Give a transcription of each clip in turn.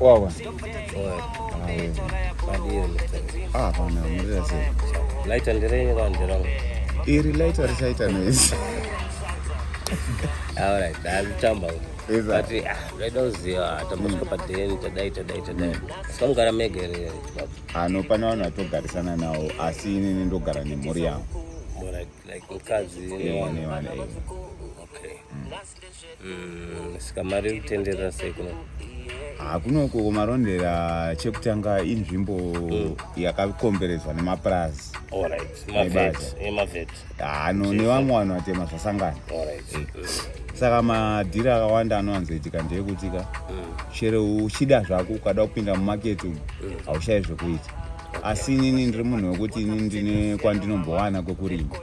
Wawa. Ah, pana murira sei. Light and rain kwa ndira. Iri light ari saita noise. All right, that's chamba. But ah, I don't see ah, tambaswa pa den tadai tadai tadai. Sika mugara mega here. Ah, no pana vanhu vatogarisana nawo asi ini ndogara nemhuri yangu. More like like mukadzi. Yeah, ne vana. Okay. Mm. Mm, saka mari iri kutenderera sei kuno hakunoko marondera chekutanga inzvimbo mm. yakakomberedzwa nemapurazi ano nevamwe vanhu vatema zvasangana saka madhiri akawanda anowanzoitika ndeyekutika mm. chero uchida zvako ukada kupinda mumaketi umu mm. haushayi zvekuita asi inini ndiri munhu wekuti inini ndine kwandinombowana kwekurima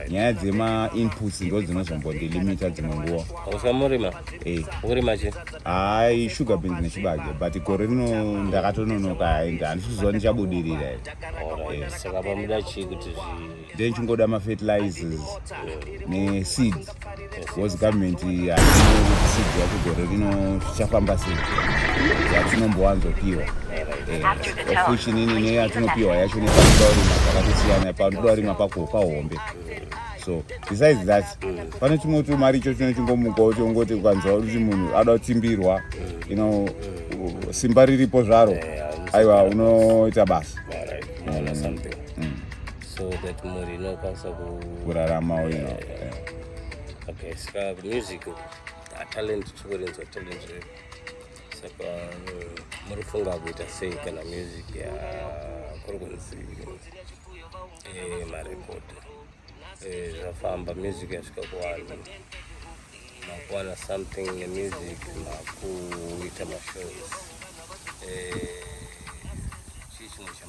nyaya dzemainputs ndo dzinozombondilimita dzimwe nguva usamurima eh. urima chi hai sugar beans nechibage but gore rino ndakatononoka handisizowa ndichabudirira eh. saka pamuda chii kuti zvi then chingoda mafertilizers neseed bcause government seed yakugore rino zvichafamba sei yatinombowanzopiwa ofuchinini neyatinopiwa yacho nepaurima zvakatosiyana paurima pako pahombe so besides that pane chimwe tumari icho chino chingomukawo chongoti ukanzwa kuti munhu ada kutsimbirwa ino simba riripo zvaro aiwa unoita basa mm. so that mhuri inokwanisa kurarama uyo yeah, yeah. yeah. okay saka music atalent chikurinzwa talent redu saka mm, muri funga kuita sei kana music yakuri kunzi eh, marekod eh, zvafamba music yasvika kuvanhu makuwana something nemusic makuita mashows eh,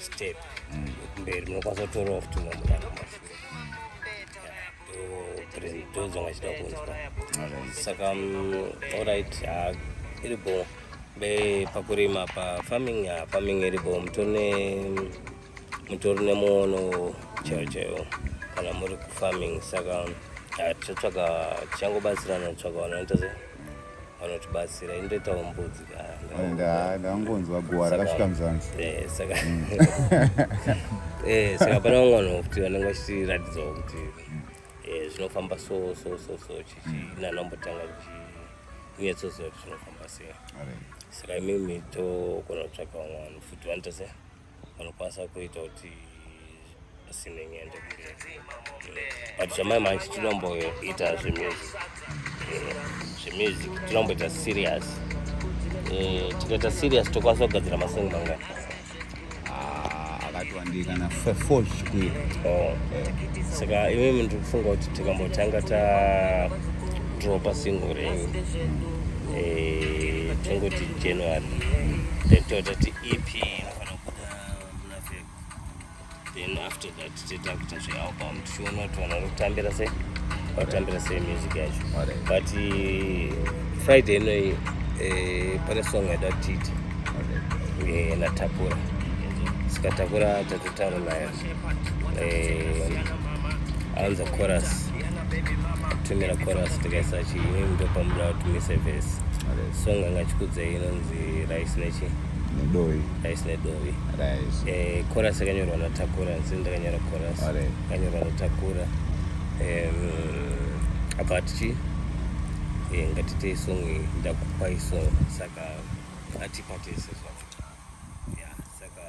step mberi munokwanisa kutorawo futi umwe munhu anomashu ndozvanga chida kunzwa saka orit iri bo be pakurima pa farming ya farming iri bo mutone mutori nemuono chaiwo chaiwo kana muri kufarming saka tichatsvaga tichangobatsirana tsvaga vanoita sei vanotibatsira indoitawo mbudzi kandangonzwa eh, guva rakasvika muzanzi eh, saka mm. eh, saka pane vamwe vanhu kuti vanenge vachitiratidzawo kuti zvinofamba so so so so chichinanambotanga mm. chinyatsoziva kuti zvinofamba sei saka imimi togona kutsvaka vamwe vanhu futi vanoita sei vanokwanisa kuita kuti asime nyende but zvamai manje tinomboita zvemusic zvemusic tinomboita serious eh, tikaita serious tokwanisa kugadzira masong mangani ah, akatiwandikana four zvikuru oh. saka imi munhu tikufunga kuti tikambotanga ta dropa single renyu eh, tongoti january then totati EP inofanira kubuda muna Feb. Then after that tita kuita zvealbum tichiona kuti vanhu vari kutambira sei vari kutambira sei music yacho but eh, Friday inoyi eh, pane song yaida kuti tiite eh, natapura saka takura tatotaura naye eh, anza chorus tumira chorus tikaisa chii ndopamuda tumise vhesi song anga chikudzei inonzi rice nechi nedovi rice nedovi eh, chorus yakanyorwa natakura nzini ndakanyora chorus yakanyorwa natakura apa tichi eh, ngatitei song ndakupai song saka atipatese zvavo saka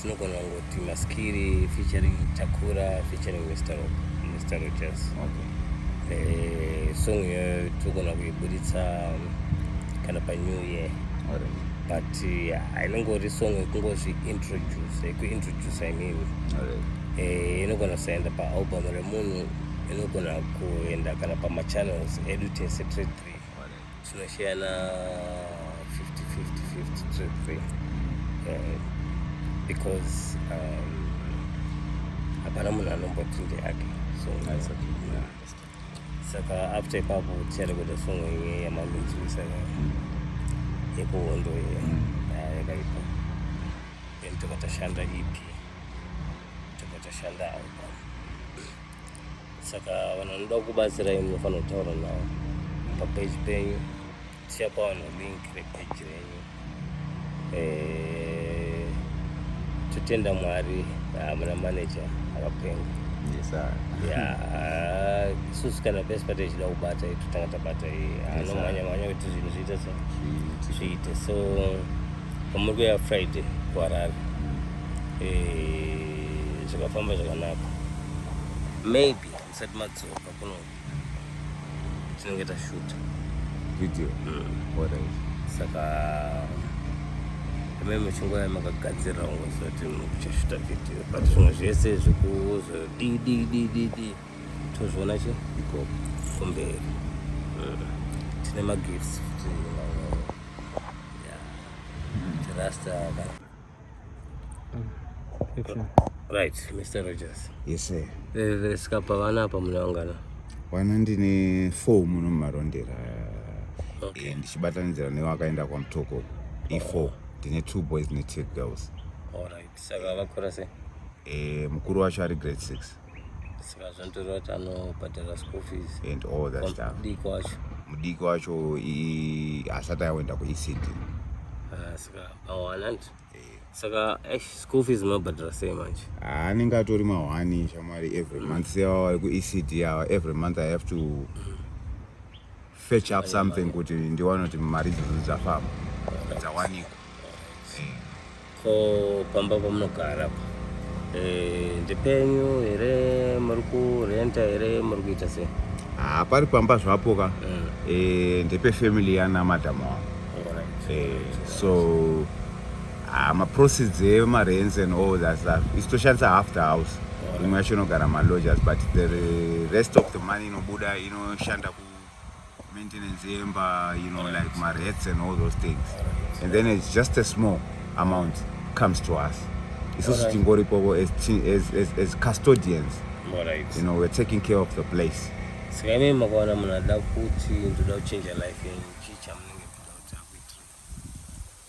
tinogona kungoti maskiri featuring takura featuring mr rob mr rogers okay. eh, song iyoyo tinogona kuiburitsa um, kana panew year right but hainongori uh, song yekungozviintroduce yekuintroduce i mean eh, inogona kusaenda paalbum remunhu inogona kuenda kana pamachannels edu tese tre three Tinoshayana 50-50-50 trip eh, because um, hapana munhu anomboti ndeyake so saka after ipapo tichada kuita songo iye yamanzwi saka yekuhondo iye yakaipa then tokatashanda ipi tokatashanda album saka vanhu vanoda kubatsirai munofanira kutaura navo papeji penyu tichapa vanhu link repeji renyu eh, totenda mwari hamuna ah, maneja akapenga isusu kana pese pati ichida kubata totanga tabata anomhanya ah, mhanya kuti zvinhu zviite so zviite so pamuri kuya friday kuharare mm. eh, zvakafamba zvakanaka maybe musati madzoka kuno tinenge tashuta video mm. orange saka ame muchingoya makagadzirira kunge zoti muchashuta video but zvimwe zvese zvekuzodididididi tozviona chi iko kumberi mm. tine magifts futi rasta Right, Mr. Rogers. Yes, sir. Eh, sika pavana apa munaungana. Wana ndine four muno mumarondera. Okay. Eh, ndichibatanidzira newe akaenda kwaMutoko. E4. Ndine two boys ne two girls. All right. Saka vakura sei? Eh, mukuru wacho ari grade 6. saka zvinotoreva kuti anobhadhara school fees and all that stuff mudiki wacho mudiki wacho hasati aenda kuecd ah, saka awananti eh. saka eh, school fees mabhadhara sei manje ah, anenge atori mahwani shamwari every month sevavari kuecd ava every month i have to mm. fetch up something kuti ndione kuti mari idzodzo dzafamba dzawanikwa ko pamba pamunogara eh, ndepenyu here muri kurenta here muri kuita sei haa pari pamba zvapo ka mm. eh, ndepefamily yana madam wavo eh, so haa maproceeds emarents and all that stuff isitoshandisa half the house imwe yacho inogara maloges but the rest of the money inobuda inoshanda maintenance yemba you know like marets and all those things and then it's just a small amount comes to us isusu tingoripovo as, as, as, as custodians right. you know we're taking care of the place saka ime makawana munhu ada kuti ndoda kuchinja life yenyu chii chamunenge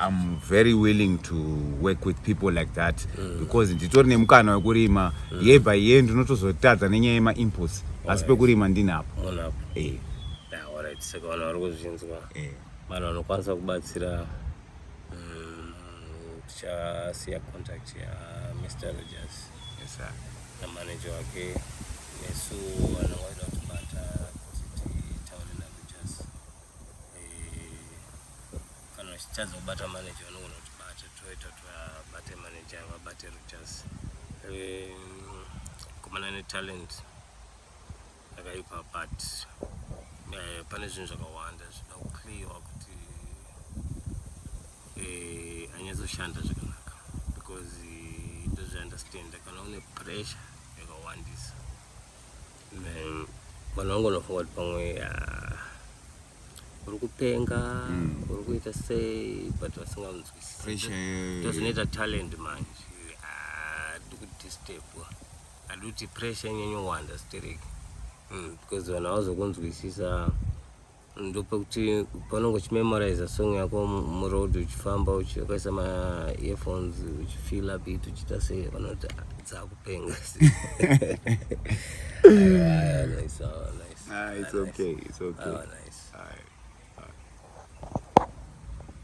I'm very willing to work with people like that mm. because nditori nemukana wekurima mm. year by year ndinotozotadza nenyaya yemaimputs asi pekurima ndinapo eh. saka vanhu vari kuzvinzwa eh. vanhu vanokwanisa kubatsira mm, tichasiya contact ya mr rogers namanager wake nesu vanhu vaida kutibata kana uchitadza kubata manager vanogona kuti bate toita tovabate manager vabate rutas komana netalent akaipa but eh, pane zvinhu zvakawanda zvida kuclearwa kuti eh, anyatsoshanda zvakanaka because ndozviunderstanda kana une pressure yakawandisa Man, vanhu vangonofunga kuti pamwe ah, uri kupenga uri kuita sei but vasinganzwisisi Pressure yeyo. ndozvinoita talent manje Ah, tiri kudisturbwa hadi kuti pressure inyanyowanda stereki Mm, because vanhu havazokunzwisisa ndopekuti panonge uchimemoriza song yako muroad uchifamba uchikaisa maearphones uchifila bit uchiita sei vanoti ah, dzakupenga ah, it's okay it's okay ah, nice.